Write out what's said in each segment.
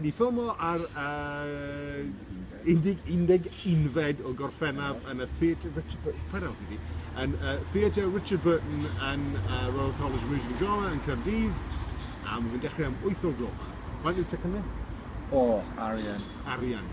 Diffomo ar y 11fed o Gorffennaf yn y Theatr Richard Burton, paid helpu fi, yn y Theatr Richard Burton yn Royal College of Music and Drama yn Caerdydd, a mae fe'n dechrau am wyth o'r gloch. Faint yw ticed ni? O, arian. Arian.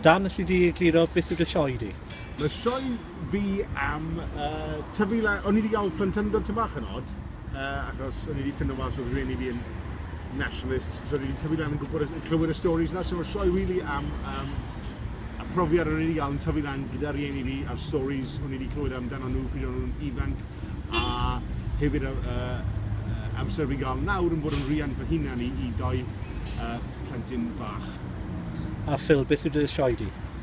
Dan, alli di egluro beth yw dy sioe di? Mae sioe fi am yy tyfu la- o'n i 'di ga'l plentyndod tym bach yn od yy achos o'n i 'di ffindo mas o'dd rieni fi yn nationalists so o'n i 'di tyfu lan yn gwbod y clywed y storis 'na so sioe rili am yym y profiad o'n i 'di ga'l yn tyfu lan gyda rieni fi a'r storis o'n i 'di clywed amdano nw pryd o'n nw'n ifanc a hefyd y yy yy amser fi'n ga'l nawr yn bod yn riant fy hunan i i dou yy plentyn bach. A Phil beth yw dy sioe di?